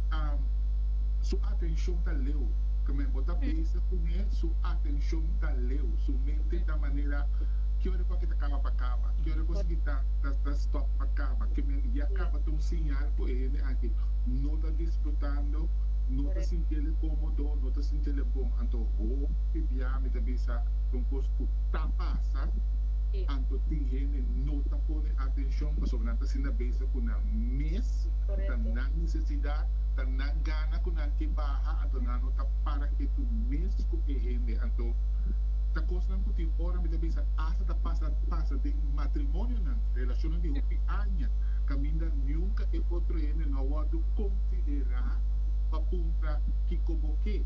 Su atencion ta leu. Keme bo ta beza kun e, su atencion ta leu. Su mente ta manera ke ora ku aki ta kaba pa kaba. Ke ora ku esaki ta ta stop pa kaba. Keme ya kaba ta un señal ku e hende aki no ta disfrutando, no ta sinti ele komodo, no ta sinti ele bon. Anto hopi bia mi ta bisa kon kos ku ta pasa. Anto tin hende no ta pone atencion pasobra nan ta asina beza ku nan mes. ta nan necesidad, ta nan gana cu nan ke baha, anto nan no ta para ketu mes cu e hende. Anto, ta cosnan cu tin ora mi ta bisa hasta ta pasa pasa den matrimonionan, relacionnan di hopi aña, caminda nunca e otro hende no a wordo considera pa puntra kico bo ke,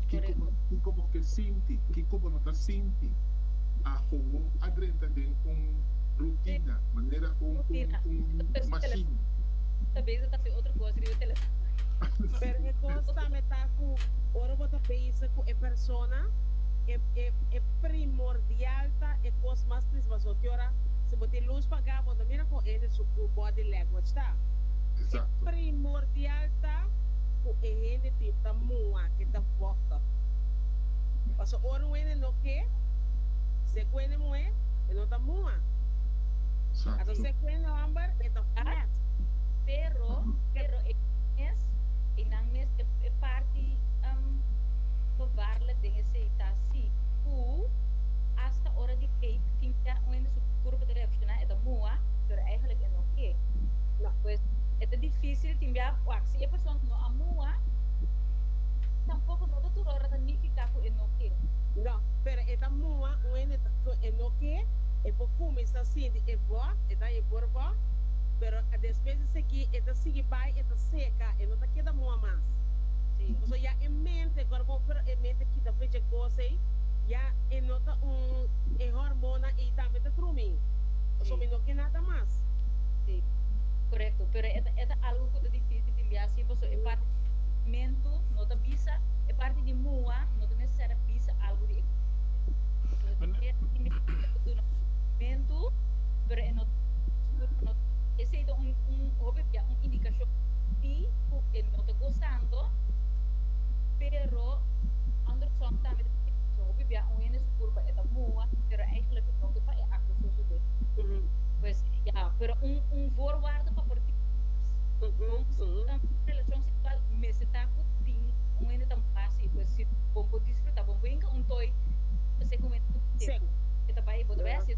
kico bo ke sinti, kico bo no ta sinti, a howo a drenta den un rutina, manera un machine. ta bezig ta hasi otro cos riba e telefono. Pero e cos tambe ta cu ora bo ta bezig cu e persona, e primordial ta e cos mas prizbaso. Te ora si bo tin luz paga bo ta mira con hende su body language ta. E primordial ta cu e hende tin ta mua e ta voto. Pasobra ora un hende no ke, si e cu hende muhe, e no ta mua. Anto si e cu hende homber, e ta. Nat, pero pero e mes einan mes e, e parti um, bevarla den esei ta si ku hasta ora di cake tin kia un hende su kurpa ta reakshoná e ta mua pero eigenlijk e no ke No. pues e ta difícil tin bia wak si e persona no a mua tampoko no ta tur ora ta nifiká ku e no ke No, pero e ta mua un hende ta so e no ke e por kuminsá sinti e bòt e ta. na e borbó, pero despues di seki e ta sigui bai, e ta seka, e no ta keda moa mas. Pasobra ya e mente, kor bo pero e mente kita fu dje kos ei, ya e no ta un, e hormonan ei tambe ta drumi, pasobra mi no ke nada mas. Sí, korekto, pero e ta e ta algu ku ta difísil di lia así, pasobra e parti di nasimentu no ta bisa, e parti di mua no ta necesario bisa algu di e kuerpo. Pasobra ta keda individu ku ta duna nasimentu. pero e no no esei ta un un hopi bia un indikashon di ku e no ta gosando pero Anderson tambe ta sinti ku hopi bia un hende su kurpa e ta mua pero eigenlijk no ke pa e akto sosodé pues ya pero un un voorwaarde pa por tin bon relashon seksual mester ta ku tin un hende ta mua si pues si bo por disfrutá bo por hinka un toy ta ser ku un hende ku tin seku e ta bai bo ta bai hasi.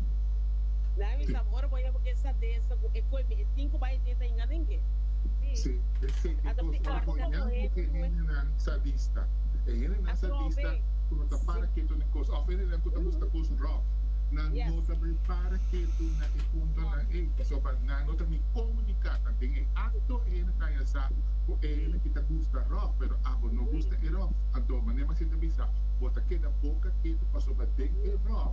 David sa ora bo a yama ku e sadesa ku e koi mi e tin ku bai e tin ta hinga den ke? Sí, eseki kos ora bo hinga ku e hendenan sadista. E hendenan sadista ku no ta para ketu na e kos òf e hendenan ku ta buska kos ròf, nan no ta bai para ketu na e puntonan ei. Pasobra nan no ta bin komuniká ta. Den e akto e hende ta yasa ku e hende ki ta buska ròf, pero abo no buska e ròf. Anto manera mas e ta bisa, bo ta keda boka ketu pasobra den e ròf,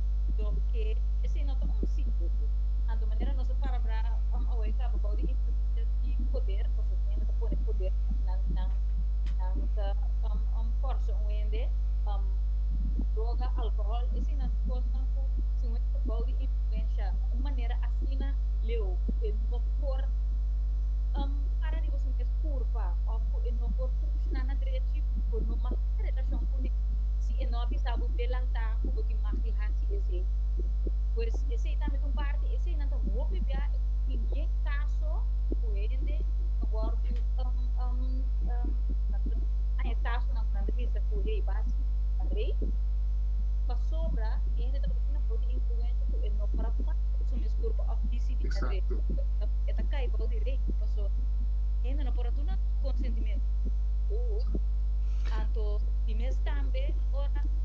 Doke esei no ta un simbolo. Anto manera nos a para bra awe kaba bou di influensia di poder, pasobra un hende ta pone poder nan nan nan ta forsa un hende droga, alkohòl, eseinan ta kosnan ku si un hende ta bou di influensia un manera asina leu e no por para riba su mes kurpa òf ku e no por funshona na drechi, bo no mahá relashon kuné si e no a bisa bo delantá. cu tin mach di haci esey. Pues esey tambe ta un parti, esey nan ta hopi bia tin bien caso cu hende ta wordo nan e casonan cu nan ta bisa cu hey bas ta rey, pasobra e hende tabata asina for di influencia cu e no para kuma cu su mes curpa of dicidi na rey, e ta cay bao di rey, paso hende no por a duna su consentimentu, anto di mes tambe ora.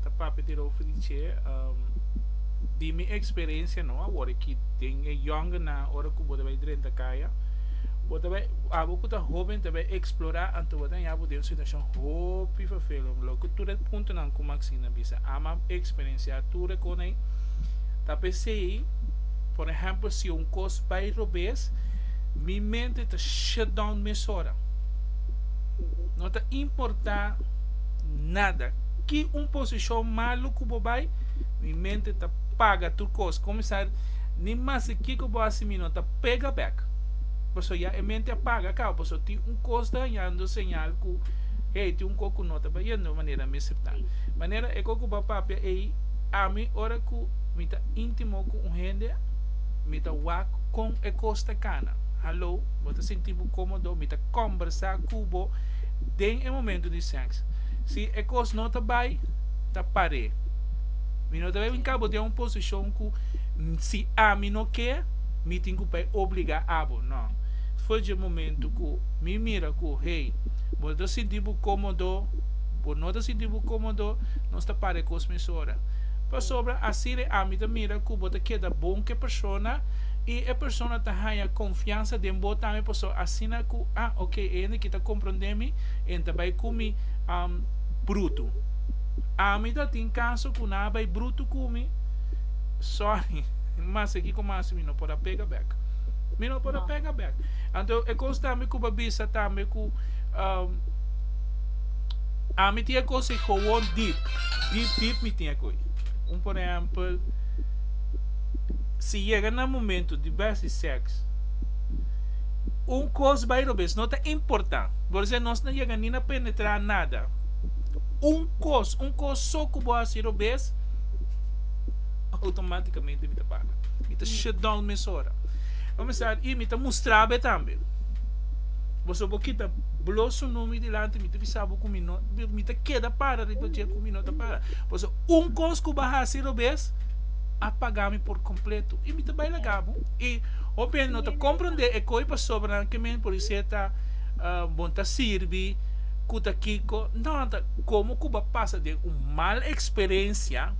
Ta papi di Rolfo di che, um, di mi experiencia no, awor aquí den e jongenan, ora cu bo ta bay drenta caya, bo ta bay, abo cu ta joven ta bay explora anto bo ta haya bo den un situacion hopi vervelend, lo cu tur e puntonan cu Maxine a bisa, ama a experiencia tur e con ey, ta pesey, por ejemplo, si un cos bay robes, mi mente ta shut down mesora, no ta importa nada. ki un posishon malu ku bo bai, mi mente ta paga tur kos. Komisar, Ni mester kiko bo hasi mi no ta pega bèk. Pasobra ya e mente a paga kaba, pasobra tin un kos ta hañando señal ku, Hey, tin un kos ku no ta bayendo manera mi siptá. Manera e kos ku bo a papia ei, ami ora ku mi ta íntimo ku un hende, mi ta wak kon e kos ta kana. Hallo, bo ta sinti bo kómodo, mi ta kòmbersá ku bo den e momentu di sèks. Si e kos no ta bai, ta par'é. Mi no ta debe bin kaba den un posishon ku si ami no ke, mi tin ku bai obligá abo. No. Fo dje momentu ku mi mira ku, hey, bo no ta sinti bo kómodo, bo no ta sinti bo kómodo, nos ta para e kos mesora. Pasobra asina e ami ta mira ku bo ta keda bon ku e persona i e persona ta haña konfiansa den bo tambe, pasobra asina ku, ah, ok, e hende aki ta komprondé mi. en ta bai kumi am brutu. Ami ta tin kaso ku nan a bai brutu ku mi, sorry, mas e kiko mas mi no por a pega bek. Mi no por a pega bek. Anto e kos ta mi ku pa bisa tambe ku am ami tin e kos ei kowon dip, dip dip mi tin e koi. Un por ehèmpel si yega na momentu di bèsti sèks, un kos bai robes no ta importante. Gorsé nos na yega ni na penetrá nada. Un kos, un kos so ku bo hasi robes, outomátikamente mi ta para. Mi ta shutdown mesora. Komensar, i mi ta mustra be tambe. Boso bo kita blo su numi dilanti, mi ta bisa bo ku mi no, mi ta keda para riba dje ku mi no ta para. Boso un kos ku bo hasi robes, a pagá mi por kompleto. I mi ta bai laga bo. I hopi hende no ta komprondé e koi pasobra nan ke men por di seta. Bo ta sirbi ku ta kiko? No, ta komo ku bo a pasa den un mal eksperensia,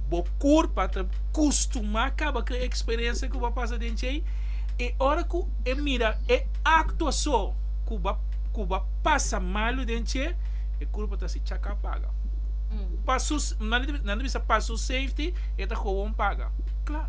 bo kurpa ta kustumá kaba ku e eksperensia ku bo a pasa den djei, i ora ku e mira e akto aso ku bo ku bo a pasa malu den dje, e kurpa ta si chaka paga. Pa su nan nan ta bisa pa su safety e ta kowon paga. Kla.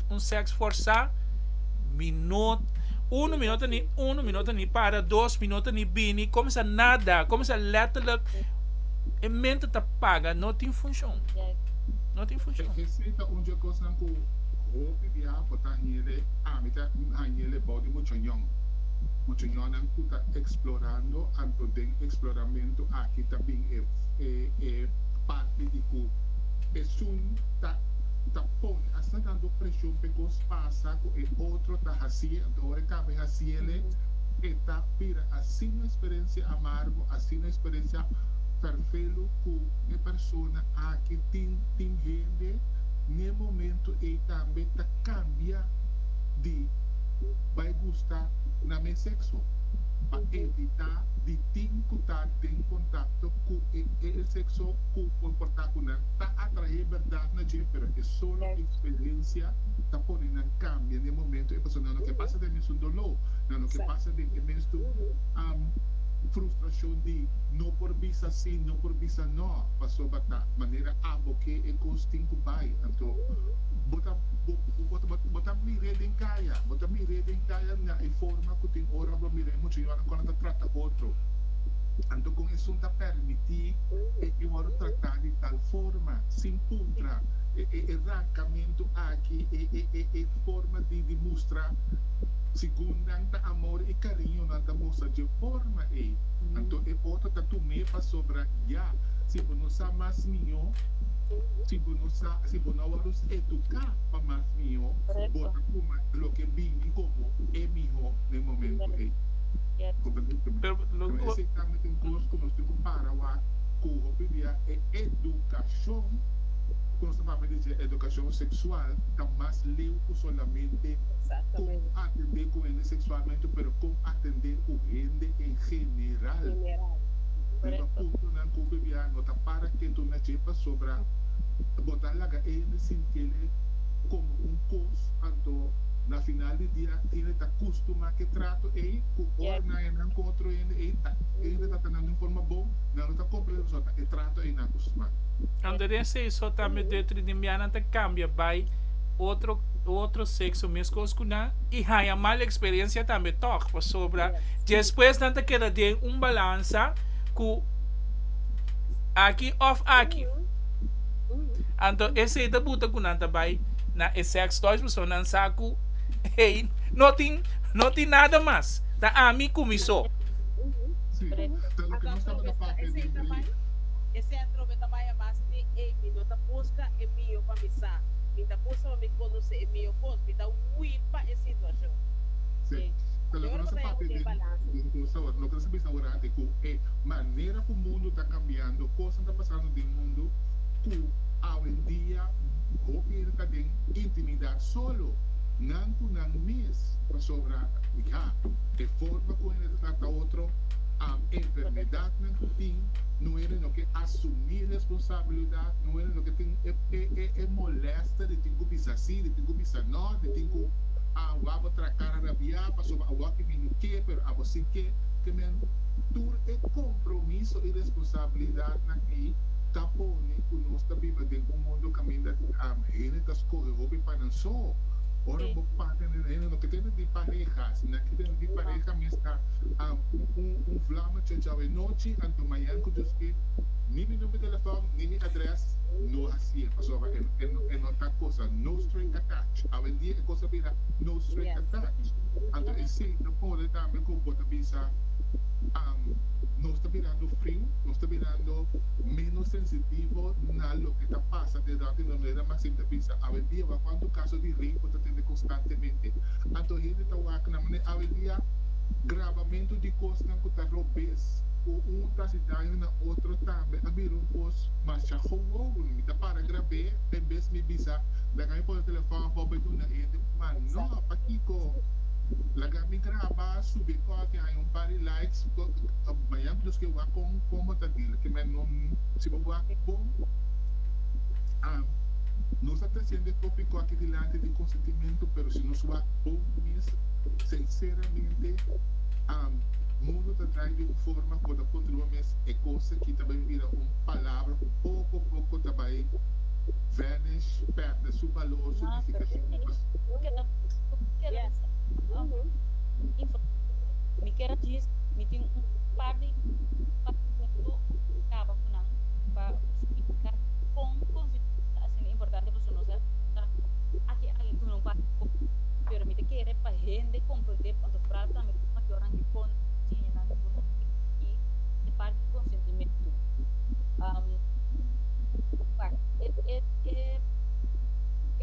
un seks forsá, mi no, unu mi no ta ni unu mi no ta ni para dos mi no ta ni bini komsa nada komsa lètterlek e mente ta paga no tin funshon no tin funshon. Esei ta un dje kosnan ku hopi biaha por ta hende ami ta hende bou di mucha ñon mucha ñonnan ku ta eksplorando anto den eksploramentu aki ta bin e e parti di ku esun ta ta pone. Asta dando presion p'e cos pasa cu e otro ta hacie, anto ora e caba e haciele, e ta bira asina experiencia amargo, asina experiencia fervelu cu e persona aki tin. Tin hende n'e momento ey tambe ta cambia di bay gusta na mes sexo pa evita di tin cu ta den contacto cu e sexo cu por porta cu nan ta atrae berdad na dje. pero e solo experiencia ta pone nan cambia n'e momento e paso nan lo ke pasa den mesun doló, nan lo ke pasa den e mesun frustracion di no por bisa sí, no por bisa no, pasobra ta manera abo ke e cos tin cu bay, anto bo ta bo ta mir'é den caya, bo ta mir'é den caya na e forma cu tin ora bo mir'é mucha yonan con a ta trata otro, anto con esun ta permiti e yonan trata di tal forma. Sin puntra, e rancamentu aki e forma di mustra segun nan ta amor i cariño nan ta mustra dje forma ei. Anto e otro ta tum'é pasobra ya, si bo no sa mas mihó, si bo no sa, si bo no a wòrdu educá pa mas mihó, bo ta coma loke bini como e mihó na e momento ei. Comprende? Pero, lo. Esei ta un cos cu nos tin cu para wak cu hopi dia. Edukashon, ku nos ta papia di dje edukashon seksual, ta mas leu ku solamente kon atendé ku hende seksualmente pero kon atendé ku hende en general. Riba puntonan ku PBA no ta para ketu na dje pasobra bo ta laga e hende sin kere komo un kos, anto na final di dia hende ta kustumá ku e trato ei ku ora nan yanan ku otro hende ei ta hende ta tratanan di un forma bon, nan no ta komprende pasobra e trato ei na Gusman. Ando den seiso ta midó tri di mianan ta kambia bai otro otro sekso meskos ku nan i haña mal eksperensia tambe tòg pasobra despues nan ta keda den un balansa ku aki òf aki anto esei ta buta ku nan ta bai na e sèks dòs pasobra nan sa ku ei no tin no tin nada mas ta ami ku mi so. Esei ta bai? Esei a trobe ta bai a base di ei mi no ta buska e mihó pa mi sa, mi ta buska pa mi konosé e mihó kos, mi ta hui pa e situashon. Sí, ta lo konosé papia di un kos awor. Loke ta bisa awor aki ku e manera ku mundu ta kambiando, kosnan ta pasando den mundu ku awendia hopi hende ta den intimidat solo nan ku nan mes. Pasobra ya e forma ku hende ta trata otro. enfermedadnan ku tin, no ene no ke asumí responsabilidat, no ene no ke tin e molèsta di tin ku bisa sí, di tin ku bisa nò, di tin ku awor abo tra kara rabiá pasobra awor aki mi no ke pero abo sí ke, te men tur e kompromiso i responsabilidatnan ei ta pone ku nos ta biba den un mundu kaminda hende ta skohe hopi pa nan so. Ora bo papia, hende no ke tende di pareha, asina ke tende di pareha mester. un flama chochao e nochi, anto mañan cu Dios ke, ni mi number telefon, ni mi adres, no haci'e, pasobra e no ta cosa no string attached. Awendia e cosa bira no string attached, anto esey ta pone tambe cu bo ta bisa, Nos ta birando friu, nos ta birando menos sensitivo na loke ta pasa detrás di nos, no era mas siempre bisa, awendia wak cuantu caso di rape bo ta tende constantemente, anto hende ta wak na manera, awendia. Grabamentu di kosnan ku ta robes ku un ta hasi daño na otro tambe a bira un kos masha gowowo. Mi ta para grab'é den bes mi bisa, Laga mi pone telefòn afó pa duna hende un man. Nò, pakiko? Laga mi graba, subi kòfi, haña un par di likes. Baña mi dos ke wak kon kon bo ta dil. Ke men no si bo wak bon. Am, Nos ta tresiente kopi kòki dilanti di konsentimentu, pero si nos wak bon mes. Sinceramente, am, mundu ta drai di un forma por ta contrua mes e cosa ki ta bai bira un palabra cu poco poco ta bai vanish, perde su balor, su nificacion y pas. pa hende komprendé punto fral tambe ku mayornan di konta di siñanan ku no tin aki e parti di konsentimentu.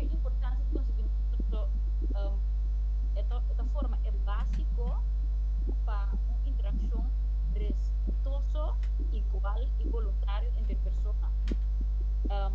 E importansia di konsentimentu so e ta e ta forma e básiko pa un interakshon respetuoso, igual i boluntario entre persona. Um,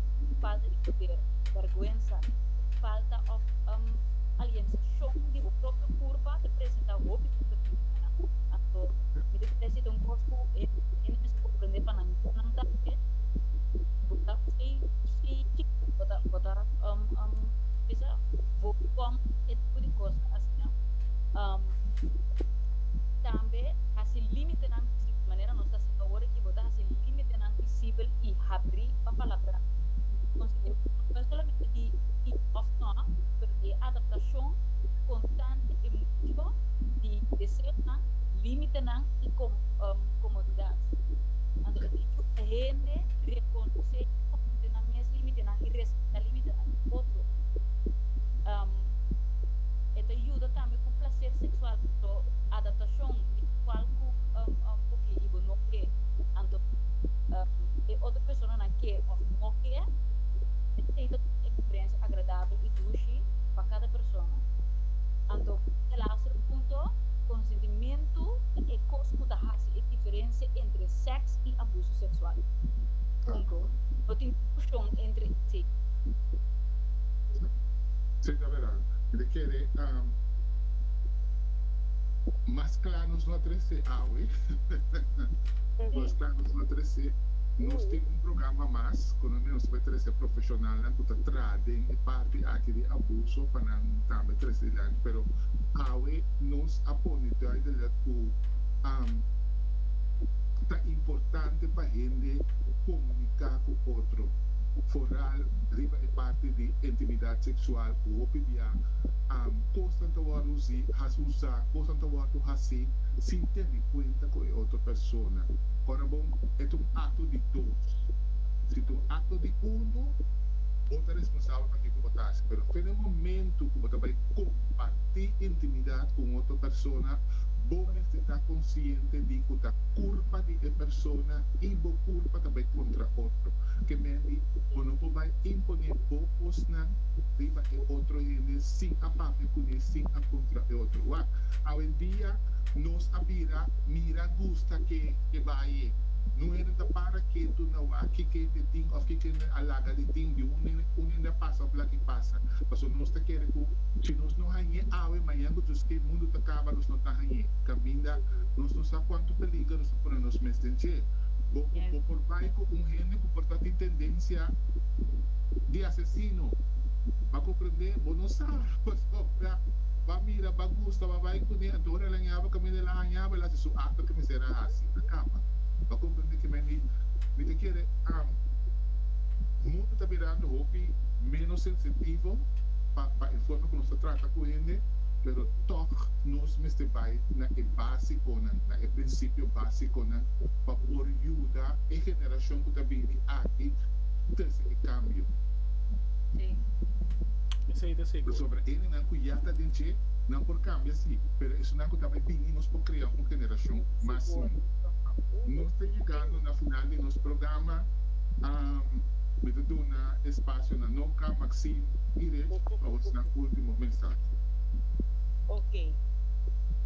di falta di puder, bèrgwensa, falta òf um aliensashon di bo propio kurpa ta presentá hopi komplementonan. Anto mi ta kere si ta un kos ku e hende mester komprendé pa nan yu nan tambe. Bo ta bai si chikito bo ta bo ta um um bisa bo kòm e tipo di kos asina. Um tambe hasi límitenan visibel, manera nos ta hasi awor aki bo ta hasi límitenan visibel i habrí papalabra konsekwentemente no e solamente di si òf nò pero di e adaptashon konstante e mucho di deseonan, límitenan i komodidat. Anto ta dicho pa hende rekonosé i konfronté nan mes límitenan i respetá límitenan di otro. E ta yuda tambe ku plaser seksual anto adaptashon di kual ku bo ke i bo no ke. Anto. e otro personanan ke òf no ke e tin ta tur un eksperensia agradabel i dushi pa kada persona. Anto e laster punto, Konsentimento ta e kos ku ta hasi e diferensia entre sèks i abuso seksual. Punto. No tin diskushon entre esei. Sí, ta verdad. Di kere, mas kla nos no a trese awe. Mas kla nos no a. establecer nos tin un programa mas kono nos bai trece profesionalnan ku ta tra den e parti aki di abuso pa nan tambe tres dilanti pero awe nos a pone duidelijk ku ta importante pa hende komunika ku otro foral riba e parti di intimidad seksual ku hopi bia kosnan ta wordu usa kosnan ta wordu hasi sin tene kuenta ku e otro persona. Ora bo et un acto di dos. Si t'un acto di uno, bo ta responsabel pa kico bo ta haci. Pero fen e momento cu bo ta bay comparti intimidad cu un otro persona, bo mester ta consciente di cu ta culpa di e persona y bo culpa ta bay contra otro. Ke men di, Bo no por bay impone bo cosnan riba e otro hende sin a papia cune, sin a contra e otro. Wak, awendia nos a bira mira gusto. ta ke e baye. Nu hende ta para ketu na wak kiko hende tin of kiko hende a laga di tin, di un hende a pasa of laki pasa. Paso nos ta kere ku si nos no hañ'é awe, mañan ku djus ke mundu ta kaba nos no ta hañ'é. Kaminda nos no sa kuantu peliger nos ta pone nos mes den dje. Bo bo por bai ku un hende ku por ta tin tendensia di asesino. Ba komprendé? Bo no sa, pasobra ba mira, ba gusta, ba bai kuné, anto ora el hañaba kaminda el a hañaba, el a. su akto ke mester a hasi a kaba. Bo a komprende ke men di mi ta kere amo. Mundu ta mirando hopi ménos sensitivo pa pa e forma ku nos ta trata ku hende, pero tòg nos mester bai na e básikonan, na e prinsipio básikonan pa por yuda e generashon ku ta bini aki trese e kambio. Esei ta seguro. Pasobra hendenan ku ya ta den dje, nan por kambia sí, pero esunnan ku ta bai bini, nos por krea un generashon mas sino. Nos ta yegando na final di nos programa. Mi ta duna e spasio na Nonka, Maxine i Reg pa bosonan ultimo mensahe. Ok.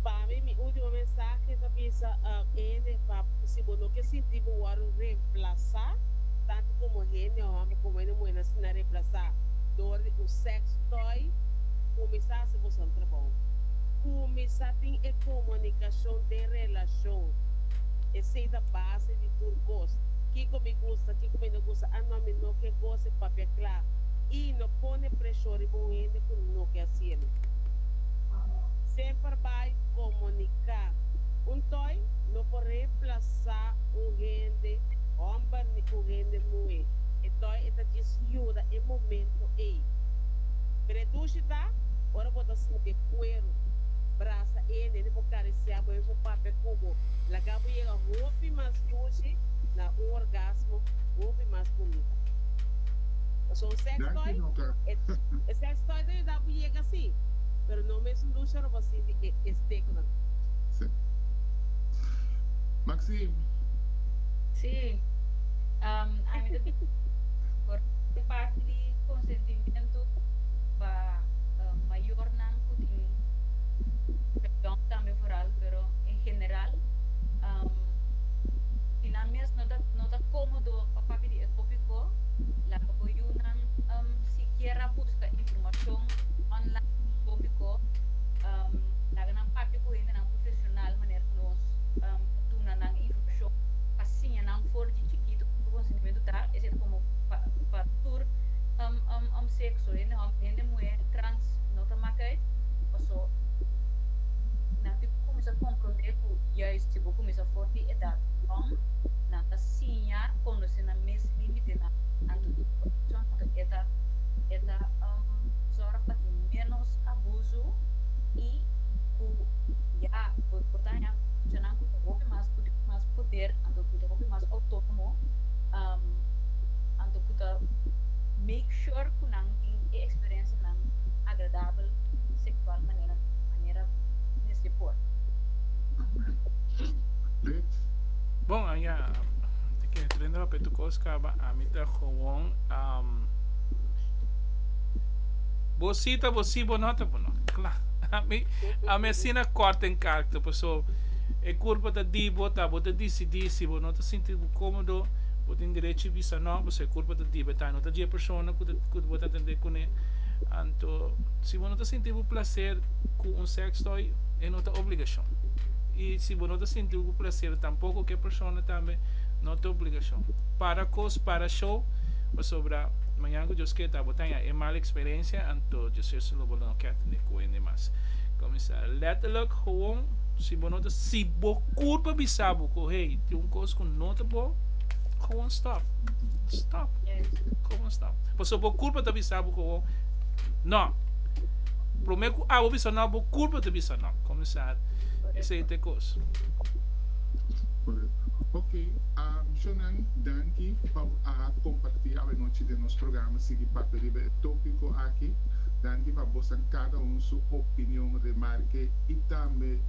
Pa mi, mi ultimo mensahe ta bisa ene pa si bo no ke sinti bo wòrdu remplasá tantu komo hende hòmber komo hende muher nan sinan remplasá dor di un sex toy, kuminsá hasi bosonan trabou. Kuminsá. tin e comunicacion den relacion, esey ta base di tur cos, kico mi gusta, kico mi no gusta, a no mi no ke goce, papia cla, y no pone presion riba un hende cu no ke hacielo. Semper bay comunica. Un toy no por reemplaza un hende homber ni un hende muhe, e toy e ta djis yuda e momento ey. Predushi ta ora bo ta sinti e cuero. brasa e nene por karisiá bo, e por papia ku bo, laga bo yega hopi mas dushi na un orgasmo hopi mas bunita. Pasobra un sex toy, e sex toy ta yuda bo yega sí, pero no mesun dushi ora bo a sinti e steknan. Maxine. Sí, ami ta bira por e parti di konsentimentu pa mayornan. tin presión tambe foral pero en general si nan mes no ta no ta cómodo pa papia di e tópico laga bo yunan sikier a busca información online di e tópico laga nan papia cu hendenan profesional manera cu nos ta duna nan información pa siña nan for di chikito con ki consentimiento ta esei ta como pa tur sexo hende homber hende muher trans. no ta mak uit, paso nan tin ku kuminsá komprondé ku yais si bo kuminsá for di edat yòn, nan ta siña konosé nan mes límitenan anto di korupshon, anto e ta e ta zòrg pa tin ménos abuso i ku ya bo bo ta haña korupshonnan ku ta hopi mas ku tin mas poder, anto ku ta hopi mas outónomo, anto ku ta make sure ku nan tin e eksperensianan. agradabel seksual manera manera mes di por. Rich. Bon, a ya te kere trende papia e tukos kaba, ami ta gewoon um, bo sí ta bo sí, bo no ta bo no. Kla, ami ami asina kort en karkter, paso e kurpa ta di bo, ta bo ta disidí si bo no ta sinti bo kómodo, bo tin derecho bisa no, paso e kurpa ta di bo, e ta no ta dje e persona ku ta Ku bo ta tende kuné. Anto, si bo no ta sinti bo plaser ku un sèkstòy, e no ta obligashon. I si bo no ta sinti bo plaser tampoko ku e persona tambe, no ta obligashon. Para kos, para show, pasobra mañana ku Dios keda ta bo ta haña e mal eksperensia, anto Dios Jesus lo bo lo no kè tende ku hende mas. Kuminsá lèterlèk howon, si bo no ta, si bo kurpa bisa bo ku hey, tin un kos ku no ta bon, howon stòp. Stòp. No. Pasobra bo culpa ta bisa bo cu bo No. Prome cu abo bisa No, bo culpa ta bisa No. Comenzá esey ta e cos. Correcto. Ok, amshonan, danki pa bo a comparti awanochi den nos programa, sigui papia riba e topico aki. Danki pa bosan cada un su opinion, remarke y tambe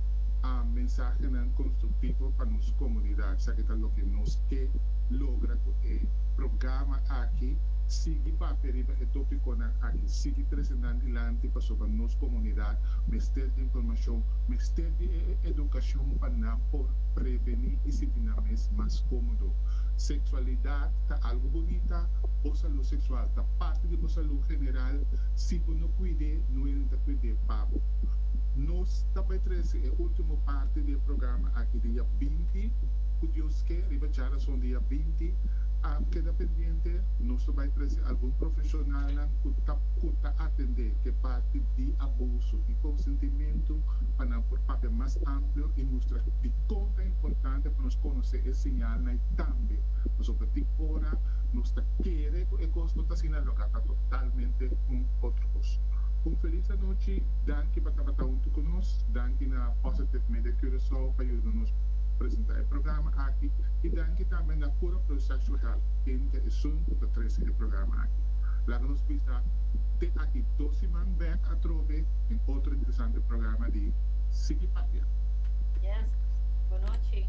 mensahenan constructivo pa nos comunidad, sa ke ta loke nos ke logra cu e programa. aki sigui papia riba e topikonan aki, sigui trese nan dilanti pasobra nos komunidat mester di informashon, mester di e edukashon pa nan por prevení i sinti nan mes mas kómodo. Seksualidat ta algu bunita, bo salú seksual ta parti di bo salú general, si bo no kuid'é nuelin ta kuid'é pa bo. Nos ta bai trese e último parti di e programa aki di ya binti, Ku Dios ke, riba Djarason di ya binti, a keda pendiente, nos ta bai trese algun profeshonalnan ku ta ku ta atendé ku e parti di abuso i konsentimentu pa nan por papia mas amplio i mustra dikon ta importante pa nos konosé e señalnan i tambe pasobra tin ora nos ta kere ku e kos no ta asina loke a ta totalmente un otro kos. Un felis anochi, danki pa tabata huntu ku nos, danki na Positive Media Curaçao pa yuda nos presentá e programa aki. Y danki tambe na Cura Processual Help Inca esun cu ta trece e programa aki. Laga nos bisa te aki dos siman bek atrobe den otro interesante programa di Sigui Papia. Yes. Bo nochi.